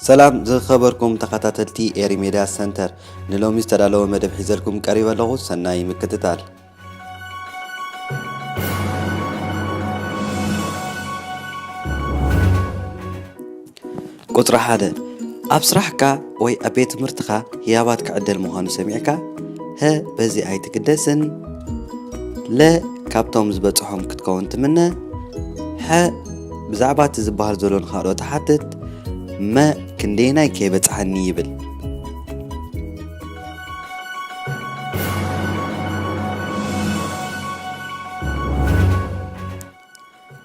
ሰላም ዝኸበርኩም ተኸታተልቲ ኤሪ ሜድያ ሰንተር ንሎሚ ዝተዳለወ መደብ ሒዘልኩም ቀሪበ ኣለኹ ሰናይ ምክትታል ቁጽሪ ሓደ ኣብ ስራሕካ ወይ ኣብ ቤት ትምህርትኻ ህያባት ክዕደል ምዃኑ ሰሚዕካ ሀ በዚ ኣይትግደስን ለ ካብቶም ዝበፅሖም ክትከውን ትምነ ሐ ብዛዕባ እቲ ዝበሃል ዘሎ ንካልኦ ትሓትት መ ክንደየናይ ከይበፅሓኒ ይብል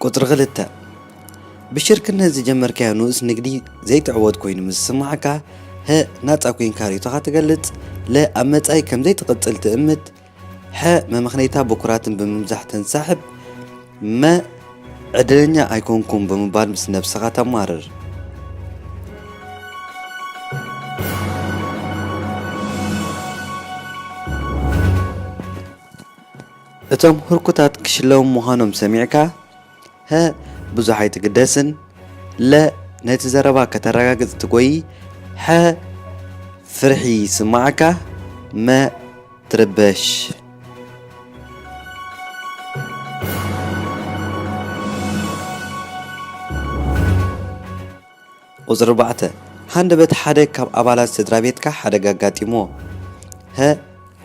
ቁጽሪ ክልተ ብሽርክነት ዝጀመርካዮ ንኡስ ንግዲ ዘይትዕወት ኮይኑ ምስ ዝስማዓካ፣ ሀ ናጻ ኮይንካ ርእይቶኻ ትገልጽ፣ ለ ኣብ መጻኢ ከም ዘይትቕጽል ትእምት፣ ሐ መመኽነይታ ብኩራትን ብምብዛሕ ተንሳሕብ መ ዕድለኛ ኣይኮንኩም ብምባል ምስ ነብስኻ ተማርር። እቶም ህርኩታት ክሽለሙ ምዃኖም ሰሚዕካ ሀ ብዙሕ ኣይትግደስን ለ ነቲ ዘረባ ከተረጋግጽ ትጎይ ሐ ፍርሒ ይስመዓካ መ ትርበሽ። ቁጽሪ ኣርባዕተ፣ ሃንደበት ሓደ ካብ ኣባላት ስድራቤትካ ሓደጋ ኣጋጢምዎ። ሀ፣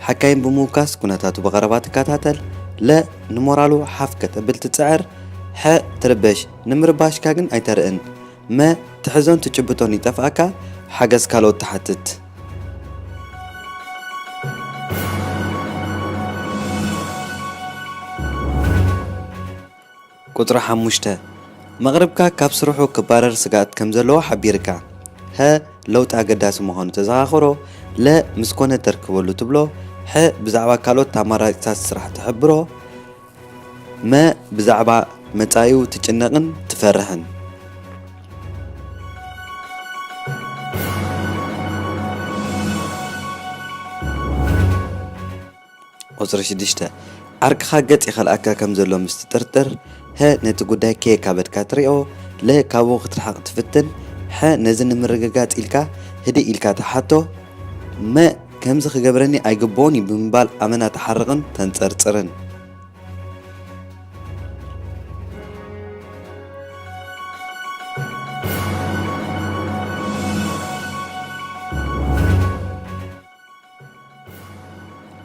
ሓካይም ብምውካስ ኩነታቱ ብቐረባ ትከታተል። ለ፣ ንሞራሉ ሓፍ ከተብል ትጽዕር። ሐ፣ ትርበሽ፣ ንምርባሽካ ግን ኣይተርእን። መ፣ ትሕዞን ትጭብጦን ይጠፍኣካ፣ ሓገዝ ካልኦት ትሓትት። ቁጽሪ ሓሙሽተ፣ መቕርብካ ካብ ስርሑ ክባረር ስግኣት ከም ዘለዎ ሓቢርካ፣ ሀ ለውጢ ኣገዳሲ ምዃኑ ተዘኻኽሮ፣ ለ ምስ ኮነ ተርክበሉ ትብሎ፣ ሐ ብዛዕባ ካልኦት ኣማራጺታት ስራሕ ትሕብሮ፣ መ ብዛዕባ መጻኢኡ ትጭነቕን ትፈርሕን። ቁጽሪ ሽዱሽተ፣ ዓርክኻ ገጽ ይኸልኣካ ከም ዘሎ ምስ ትጥርጥር፣ ሀ ነቲ ጉዳይ ከየካበድካ ትሪኦ፣ ለ ካብኡ ክትርሕቕ ትፍትን፣ ሐ ነዚ ንምርግጋጽ ኢልካ ህድእ ኢልካ ትሓቶ፣ መ ከምዚ ክገብረኒ ኣይግብኦን እዩ ብምባል ኣመና ትሓርቕን ተንጸርጽርን።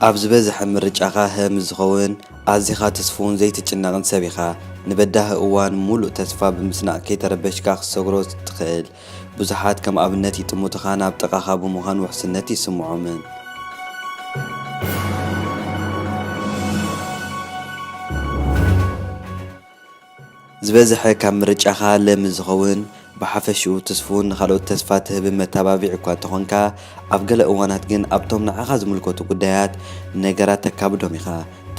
ኣብ ዝበዝሐ ምርጫኻ ህ ምስ ዝኸውን፣ ኣዚኻ ትስፉውን ዘይትጭነቕን ሰብ ኢኻ። ንበዳሂ እዋን ምሉእ ተስፋ ብምስናቕ ከይተረበሽካ ክትሰግሮ ትኽእል። ብዙሓት ከም ኣብነት ይጥምቱኻን ኣብ ጥቓኻ ብምዃን ውሕስነት ይስምዖምን። ዝበዝሐ ካብ ምርጫኻ ለሚ ዝኸውን ብሓፈሽኡ ትስፉውን ንኻልኦት ተስፋ ትህብን መተባብዒ እኳ እንተኾንካ፣ ኣብ ገለ እዋናት ግን ኣብቶም ንዓኻ ዝምልከቱ ጉዳያት ነገራት ተካብዶም ኢኻ።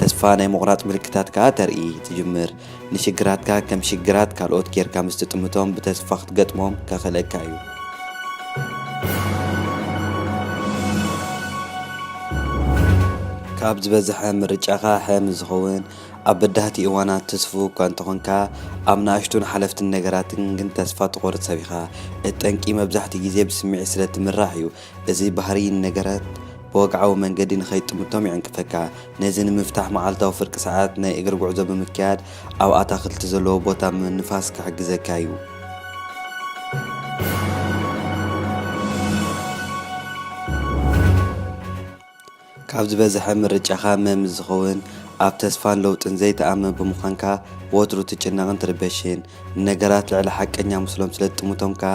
ተስፋ ናይ ምቑራጽ ምልክታት ከኣ ተርኢ ትጅምር። ንሽግራትካ ከም ሽግራት ካልኦት ጌርካ ምስ ትጥምቶም ብተስፋ ክትገጥሞም ከኽእለካ እዩ። ካብ ዝበዝሐ ምርጫኻ ሐ ምስ ዝኸውን፣ ኣብ በዳህቲ እዋናት ትስፉው እኳ እንተኾንካ፣ ኣብ ንኣሽቱን ሓለፍትን ነገራትን ግን ተስፋ ትቖርጽ ሰብ ኢኻ። እቲ ጠንቂ መብዛሕትኡ ግዜ ብስምዒት ስለ እትምራሕ እዩ። እዚ ባህርይ ንነገራት ብወግዓዊ መንገዲ ንኸይትጥምቶም ይዕንቅፈካ። ነዚ ንምፍታሕ መዓልታዊ ፍርቂ ሰዓት ናይ እግሪ ጉዕዞ ብምክያድ ኣብ ኣታኽልቲ ዘለዎ ቦታ ምንፋስ ክሕግዘካ እዩ። ካብ ዝበዘሐ ምርጫኻ መ ምስ ዝኸውን ኣብ ተስፋን ለውጥን ዘይትኣምን ብምዃንካ ወትሩ ትጭነቕን ትርበሽን። ንነገራት ልዕሊ ሓቀኛ ምስሎም ስለ ትጥምቶም ከኣ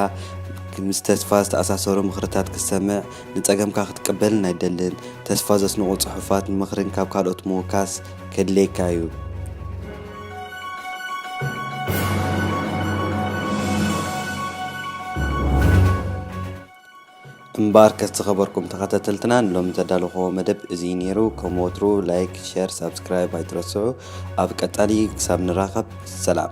ምስ ተስፋ ዝተኣሳሰሩ ምኽርታት ክትሰምዕ ንጸገምካ ክትቅበልን ኣይትደልን። ተስፋ ዘስንቑ ጽሑፋት ንምኽርን ካብ ካልኦት ምውካስ ከድልየካ እዩ። እምበኣርከስ ዝኸበርኩም ተኸታተልትና ንሎሚ ዘዳለኹዎ መደብ እዚ ነይሩ። ከም ወትሩ ላይክ፣ ሸር፣ ሳብስክራይብ ኣይትረስዑ። ኣብ ቀጻሊ ክሳብ ንራኸብ ሰላም።